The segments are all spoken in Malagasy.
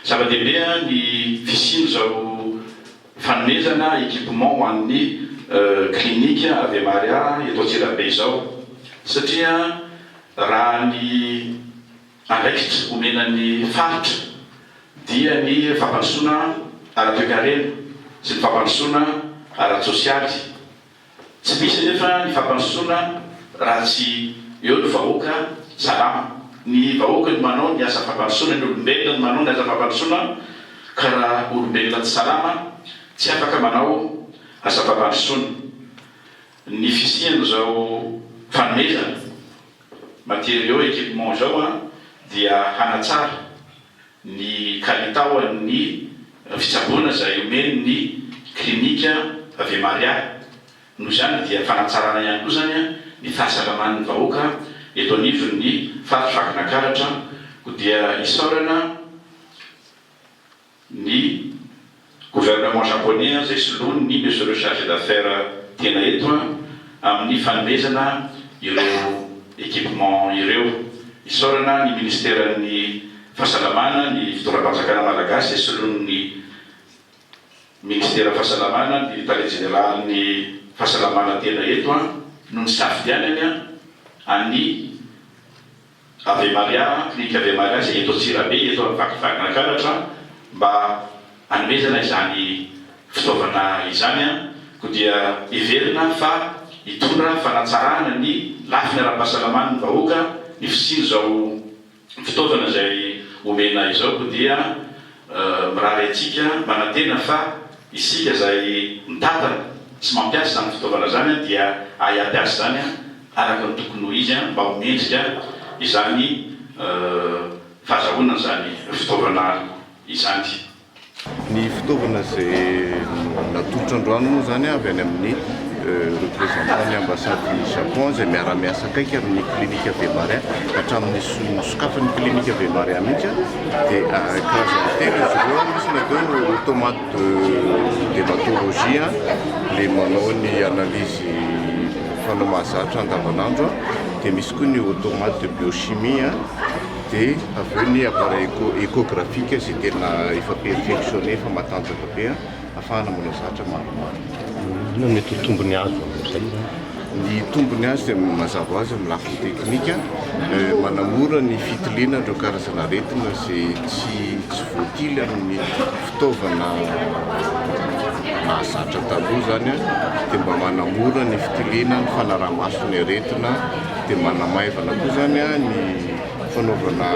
Zava-dehibe ny fisian'izao fanomezana équipement ho an'ny clinique Ave Maria eto Antsirabe izao satria raha ny andraikitra omena ny faritra dia ny fampandrosoana ara-toekarena sy ny fampandrosoana ara-tsosialy. Tsy misy anefa ny fampandrosoana raha tsy eo ny vahoaka salama. Ny vahoaka no manao ny asa fampandrosoana, ny olombelona no manao ny asa fampandrosoana ka raha olombelona tsy salama tsy afaka manao asa fampandrosoana. Ny fisian'izao fanomezana matériaux, équipements izao dia hanatsara ny kalitao an'ny fitsaboana izay omen'ny klinika Ave-Maria. Noho izany dia fanatsarana ihany koa izany ny fahasalaman'ny vahoaka eto anivon'ny faritra Vakinakaratra koa dia isaorana ny Gouvernement Japonais izay soloan ny Monsieur le Chargé d'Affaires tena eto amin ny fanomezana ireo équipement ireo. Isaorana ny Ministeran ny Fahasalamana, ny Fitondram-panjakana Malagasy izay soloan ny Ministeran Fahasalamana, ny Tale Jeneralin ny Fahasalamana tena eto no nisafidianany an ny Ave Maria, Clinique Ave Maria izay eto Antsirabe, eto amin'ny vakivakin'ny Ankaratra, mba hanomezana izany fitaovana izany, koa dia heverina fa hitondra fanatsarana ny lafiny ara-pahasalaman'ny vahoaka ny fisian'izao fitaovana izay omena izao, koa dia mirary antsika manantena fa isika izay mitantana sy mampiasa izany fitaovana izany dia hahay hampiasa izany. araka ny tokony ho izy mba ho mendrika izany fahazahoana izany fitaovana izany. Ny fitaovana izay natolotra androany moa izany avy any amin'ny Représentant ny Ambassade ny Japon izay miara-miasa akaiky amin'ny Clinique Ave Maria hatramin'ny nosokafan'ny Clinique Ave Maria mihitsy dia karazany telo izy ireo, misy ny atao hoe Automate. de dermatologie le manao ny analyse fanao mahazatra andavanandro de misy koa ny automate de biochimie de avy eo ny appareil echographique zay tena efa perfectionne efa matanjaka be afahana manao zatra maromaro inona mety ho tombony azo amin'izay zany ny tombony azy dia mazava ho azy amin'ny lafiny teknika eh, manamora ny fitiliana ireo karazana aretina izay tsy tsy voatily amin'ny fitaovana nahazatra taloha izany dia mba manamora ny fitiliana ny fanaraha-maso ny aretina dia manamaivana koa izany ny fanaovana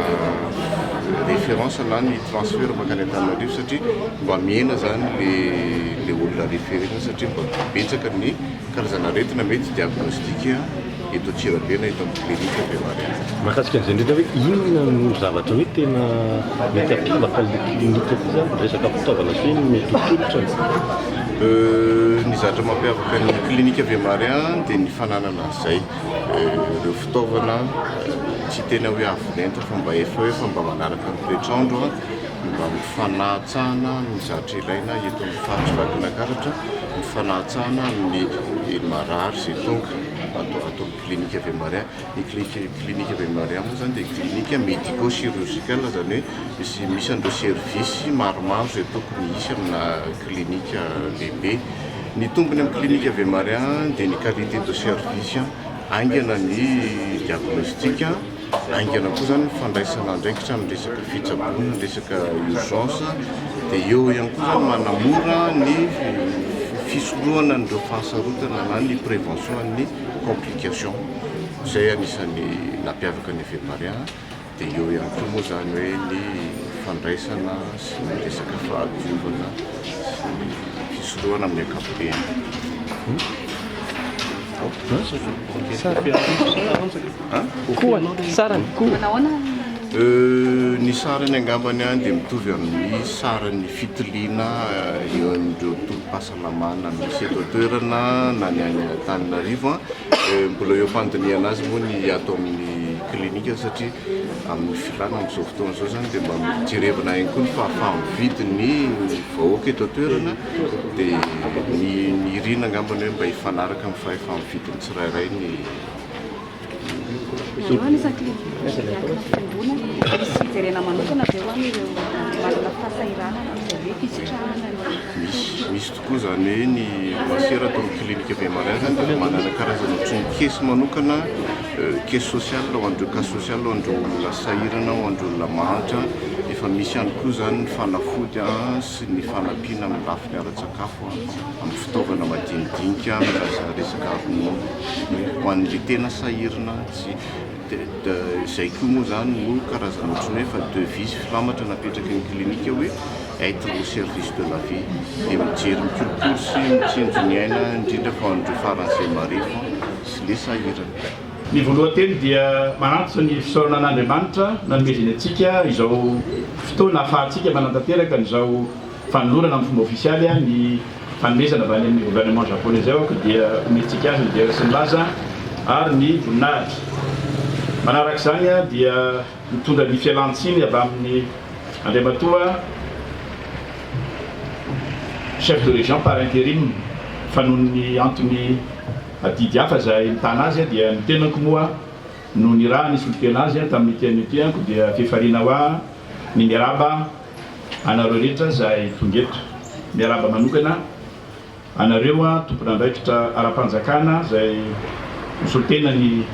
référence na ny transfert mankany Antananarivo satria mba mihena izany ilay olona référé satria mba betsaka ny karazana aretina mety diagnostique eto Antsirabe na eto amin'ny clinique Bemariahy. Mahakasika an'izay indrindra hoe inona no zavatra hoe tena mety hampiavaka an'ilay clinique ity izany? Ny resaka fitaovana sy ny mety ho tolotrany? Ny zavatra mampiavaka ny clinique Bemariahy dia ny fananana an'izay, ireo fitaovana tsy tena hoe avo lenta fa mba efa hoe fa mba manaraka ny toetr'andro, ny mba amin'ny fanatsahana ny zavatra ilaina eto amin'ny faritra Vakinankaratra, ny fanatsahana ny marary izay tonga. atao atao amin'ny clinique Ave Maria. Ny clinique clinique Ave Maria moa izany dia clinique médico chirurgicale izany hoe misy misy an'ireo service maromaro izay tokony hisy amina clinique lehibe. Ny tombony amin'ny clinique Ave Maria dia ny qualité de service, haingana ny diagnostic, Haingana koa izany ny fandraisana andraikitra amin'ny resaka fitsaboana, ny resaka urgence, dia eo ihany koa izany manamora ny fisorohana an'ireo fahasarotana na ny prévention an'ny complication. Izay anisan'ny nampiavaka ny Feparia, dia eo ihany koa moa izany hoe ny fandraisana sy ny resaka fahadiovana sy ny fisorohana amin'ny ankapobeny. Ny sarany angambany any dia mitovy amin'ny saran'ny fitiliana eo amin'ireo tobim-pahasalamana misy eto an-toerana na ny any Antananarivo. Mbola eo am-pandinihana azy moa ny ato amin'ny clinique satria amin'ny filàna amin'izao fotoana izao izany dia mba mijerevina ihany koa ny fahafaha-mividy ny vahoaka eto an-toerana dia nirina angamba ny hoe mba hifanaraka amin'ny fahefa-mividin'ny tsirairay ny Ianao anisan'ny clinique miankina fiangonana, misy fijerena manokana ve ho an'ireo manana fahasahiranana amin'izay hoe fisitrahana ny fo? Misy tokoa izany hoe ny masera ato amin'ny clinique Bemariazy dia manana karazana tromokesy manokana Cas social ho an'ireo cas social ho an'ireo olona sahirana ho an'ireo olona mahantra efa misy ihany koa izany ny fanafody sy ny fanampiana amin'ny lafiny ara-tsakafo amin'ny fitaovana madinidinika raha resaka ronono hoe ho an'ilay tena sahirana tsy dia izay koa moa izany no karazana ohatry ny hoe efa devis filamatra napetraky ny clinique hoe être au service de la vie dia mijery mikolokolo sy mitsinjo ny aina indrindra fa an'ireo faran'izay marefo sy ny sahirana. Ny voalohan-teny dia manantso ny fisaorana an'Andriamanitra nanomezany antsika izao fotoana ahafahantsika manatanteraka an'izao fanolorana amin'ny fomba ofisialy ny fanomezana avy any amin'ny gouvernement japonais izao ka dia omentsika azy ny dera sy ny laza ary ny voninahitra. Manaraka izany dia mitondra ny fialan-tsiny avy amin'ny Andriamatoa Chef de Région par interim fa noho ny antony Adidy hafa izay mitana azy dia ny tenako moa no niraha nisolo tena azy tamin'ity anio ity ko dia fiafariana hoa ny miarahaba anareo rehetra izay tonga eto. Miarahaba manokana anareo tompon'andraikitra ara-panjakana izay misolo tena ny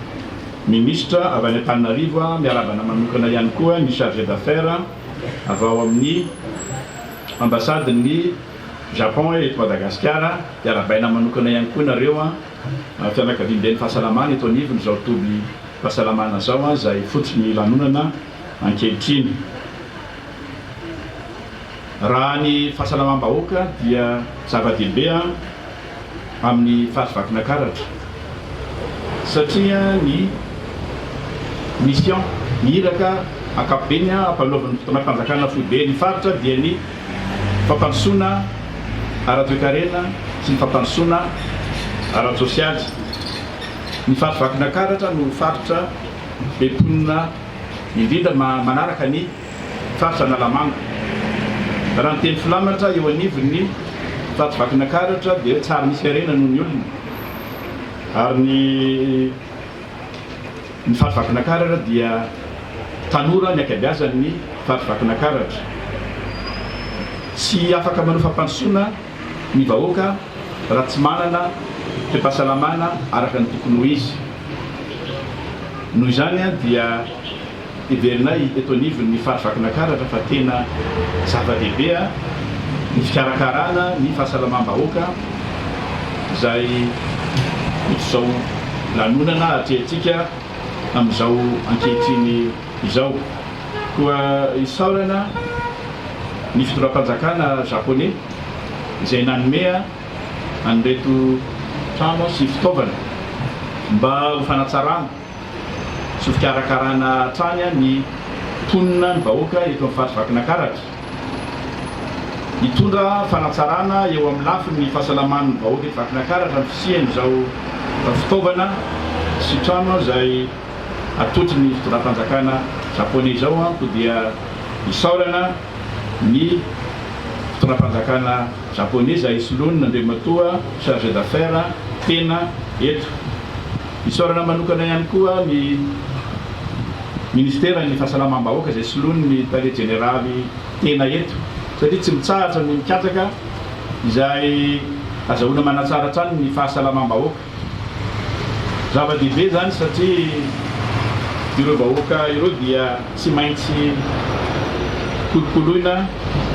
minisitra avy any Antananarivo, miarahaba manokana ihany koa ny chargé d'affaires avy ao amin'ny ambasadin'ny. Japon eh, eto Madagasikara dia arabaina manokana ihany koa nareo an, fianakaviamben'ny fahasalamana eto anivon izao toby pasalamana zao an, zay fotsiny lanonana ankehitriny. Raha ny fahasalamam-bahoaka dia zava-dehibe an. amin'ny faty vakina karatra satria ny mission, ny iraka ankapobeny ampanaovin'ny fitondram-panjakana foibe ny faritra dia ny fampandrosoana ara-toekarena sy ny fampandrosoana ara-tsosialy. Ny faty vakina karatra no faritra be mponina indrindra manaraka ny. Faritra Analamanga. Raha ny teny filamatra eo anivon'ny Faritra Vakinakaratra dia tsary misy harena noho ny olona ary ny ny Faritra Vakinakaratra dia tanora ny ankabeazan'ny Faritra Vakinakaratra. Tsy afaka manao fampandrosoana ny vahoaka raha tsy manana toe-pahasalamana araka ny tokony ho izy. Noho izany dia. Heverinay eto anivon'ny Fary Vakinankaratra fa tena zava-dehibe ny fikarakarana ny fahasalamam-bahoaka izay ohatr'izao lanonana atrehintsika amin'izao ankehitriny izao. Koa isaorana ny fitondram-panjakana Japoney izay nanome an'ireto trano sy fitaovana mba ho fanatsarana. Tsy ho fikarakarana hatrany ny mponina, ny vahoaka eto amin'ny Faritra Vakinakaratra. Hitondra fanatsarana eo amin'ny lafiny fahasalaman'ny vahoaka eto Vakinakaratra ny fisian'izao fitaovana sy trano izay atolotry ny fitondram-panjakana Japoney izao koa dia isaorana ny fitondram-panjakana Japoney izay soloan'Andriamatoa Chargé d'Affaires tena eto. Isaorana manokana ihany koa ny Ministeran'ny Fahasalamam-bahoaka izay soloiny ny Tale Jeneraly tena eto satria tsy mitsahatra ny mikatsaka izay azahoana manatsara hatrany ny fahasalamam-bahoaka. Zava-dehibe izany satria ireo vahoaka ireo dia. Tsy maintsy kolokoloina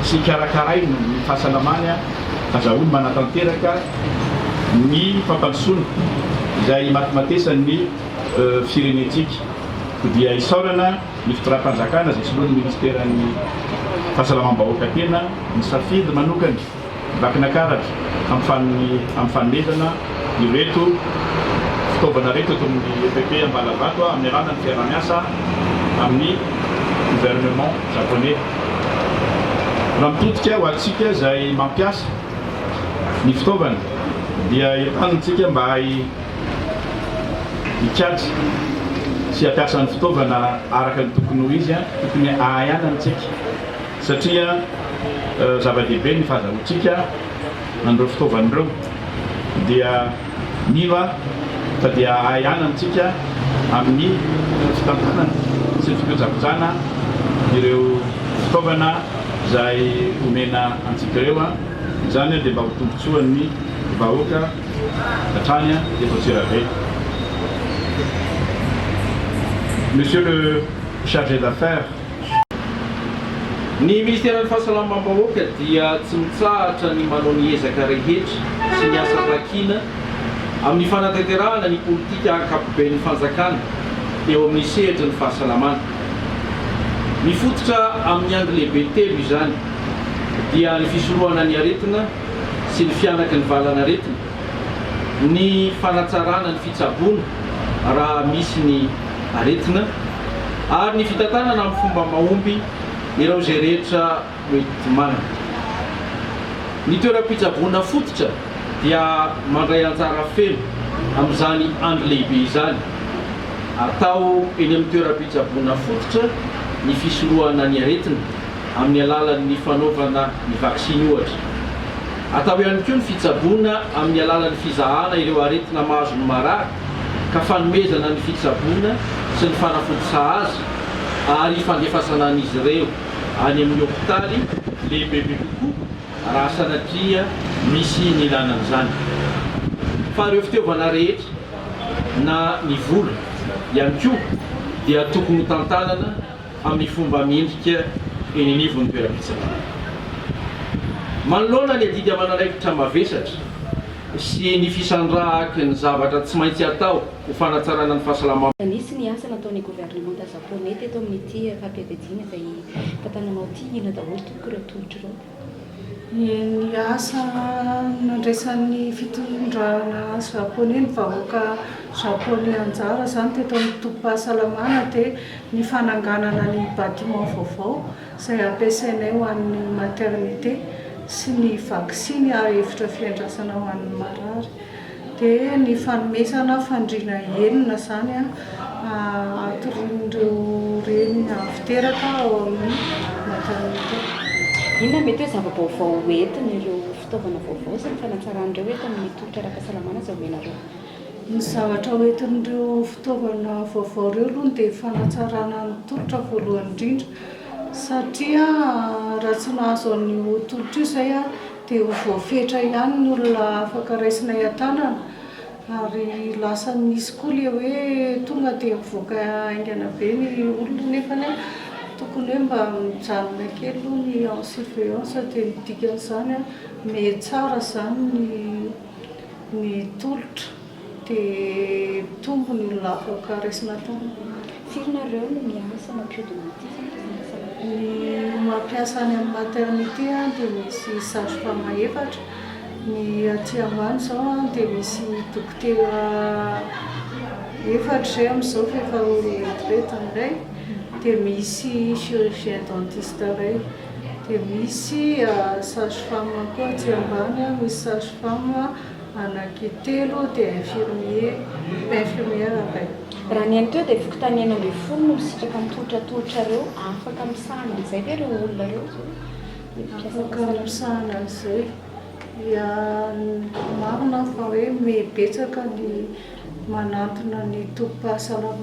sy karakaraina ny fahasalamany. Azahoany manatanteraka ny fampandrosoana izay himatimatesan' ny firenentsika. Koa dia isaorana ny fitondram-panjakana izay soloan'ny Ministeran'ny Fahasalamam-bahoaka tena nisafidy manokana Vakina karatra amin'ny fanomezana ireto fitaovana ireto eto amin'ny epp Ambalavato amin'ny alalan'ny fiaraha-miasa amin'ny gouvernement japonais. Raha mitodika ho antsika izay mampiasa ny fitaovana dia entanintsika mba hikajy sy hampiasa ny fitaovana araka ny tokony ho izy, tokony ahayanantsika. satria zava-dehibe ny fahazahoantsika an'ireo fitaovana ireo dia mila tadia ahy ana amintsika amin'ny fitantanana sy ny fikojakojana ireo fitaovana izay omena antsika ireo, izany dia mba ho tombotsoan'ny vahoaka hatrany eto Antsirabe. Monsieur le Chargé d'Affaires. Ny Ministeran'ny Fahasalamam-bahoaka dia tsy mitsahatra ny manao ny ezaka rehetra sy ny asa takina amin'ny fanatanterahana ny politika ankapoben'ny fanjakana eo amin'ny sehatry ny fahasalamana. Mifototra amin'ny angy lehibe telo izany, dia ny fisorohana ny aretina sy ny fihanaky ny valan'aretina, ny fanatsarana ny fitsaboana raha misy ny. aretina ary ny fitantanana amin'ny fomba mahomby ireo izay rehetra mety manana ny toeram-pitsaboana fototra dia mandray anjara feno amin'izany andro lehibe izany atao eny amin'ny toeram-pitsaboana fototra ny fisorohana ny aretina amin'ny alalan'ny fanaovana ny vaksiny ohatra. Atao ihany koa ny fitsaboana amin'ny alalan'ny fizahana ireo aretina mahazo ny marary ka fanomezana ny fitsaboana sy ny fanafody sahaza ary ifandefasana an'izy ireo any amin'ny hopitaly lehibebe kokoa raha sanatria misy ny ilana an'izany, fa ireo fitaovana rehetra na ny vola ihany koa dia tokony hotantanana. amin'ny fomba mendrika eny anivon'ny toeram-pitsaboana. Manoloana ny adidy aman'andraikitra mavesatra sy ny fisandrahaky ny zavatra tsy maintsy atao ho fanatsarana ny fahasalamam-. Nisy ny asa nataon'ny governemanta Japoney teto amin'ity faha-pivadiana izay tantananao ity. Inona daholo tompoko ireo tolotra ireo? Ny asa nandraisan'ny fitondrana Japoney ny vahoaka Japoney anjara izany teto amin'ny tobim-pahasalamana dia ny fananganana ny bâtiment vaovao izay hampiasainay ho an'ny maternité sy ny vaksiny ary efitra fiandrasana ho an'ny marary. Dia ny fanomezana fandriana enina izany an, hatorian'ireo reny avy teraka ao amin'ny maternité. Inona mety hoe zava-baovao ho entin'ireo fitaovana vaovao sy ny fanatsaran'ireo eto amin'ny tolotra ara-pahasalamana izay omenareo? Ny zavatra ho entin'ireo fitaovana vaovao ireo aloha ny dia fanatsarana ny tolotra voalohany indrindra satria raha tsy nahazo an'io tolotra io izay an, Dia ho voafetra ihany ny olona afaka raisinay an-tanana ary lasa misy koa ilay hoe tonga dia mivoaka haingana be ny olona nefany an, tokony hoe mba mijanona kely aloha ny en surveillance dia ny dikan'izany an, mihatsara izany ny tolotra. Dia tombony ny lavaka raisina tany. Firy nareo no miasa mampiodina ity sa tsy miasa loatra? Ny mampiasa any amin'ny maternité dia misy sage femme efatra, ny aty ambany izao dia misy dokotera efatra izay amin'izao fa efa ho retraite indray, dia misy chirurgien dentiste iray, dia misy sage femme koa aty ambany, misy sage femme. Anaky telo dia infirmier, infirmière indray. Raha ny any teo dia fokontany enina ambin'ny folo no misitraka ny tolotra atolotrareo, afaka misahana an'izay ve ireo olona ireo? Afaka misahana an'izay, dia marina fa hoe betsaka ny manantona ny tobim-pahasalamana.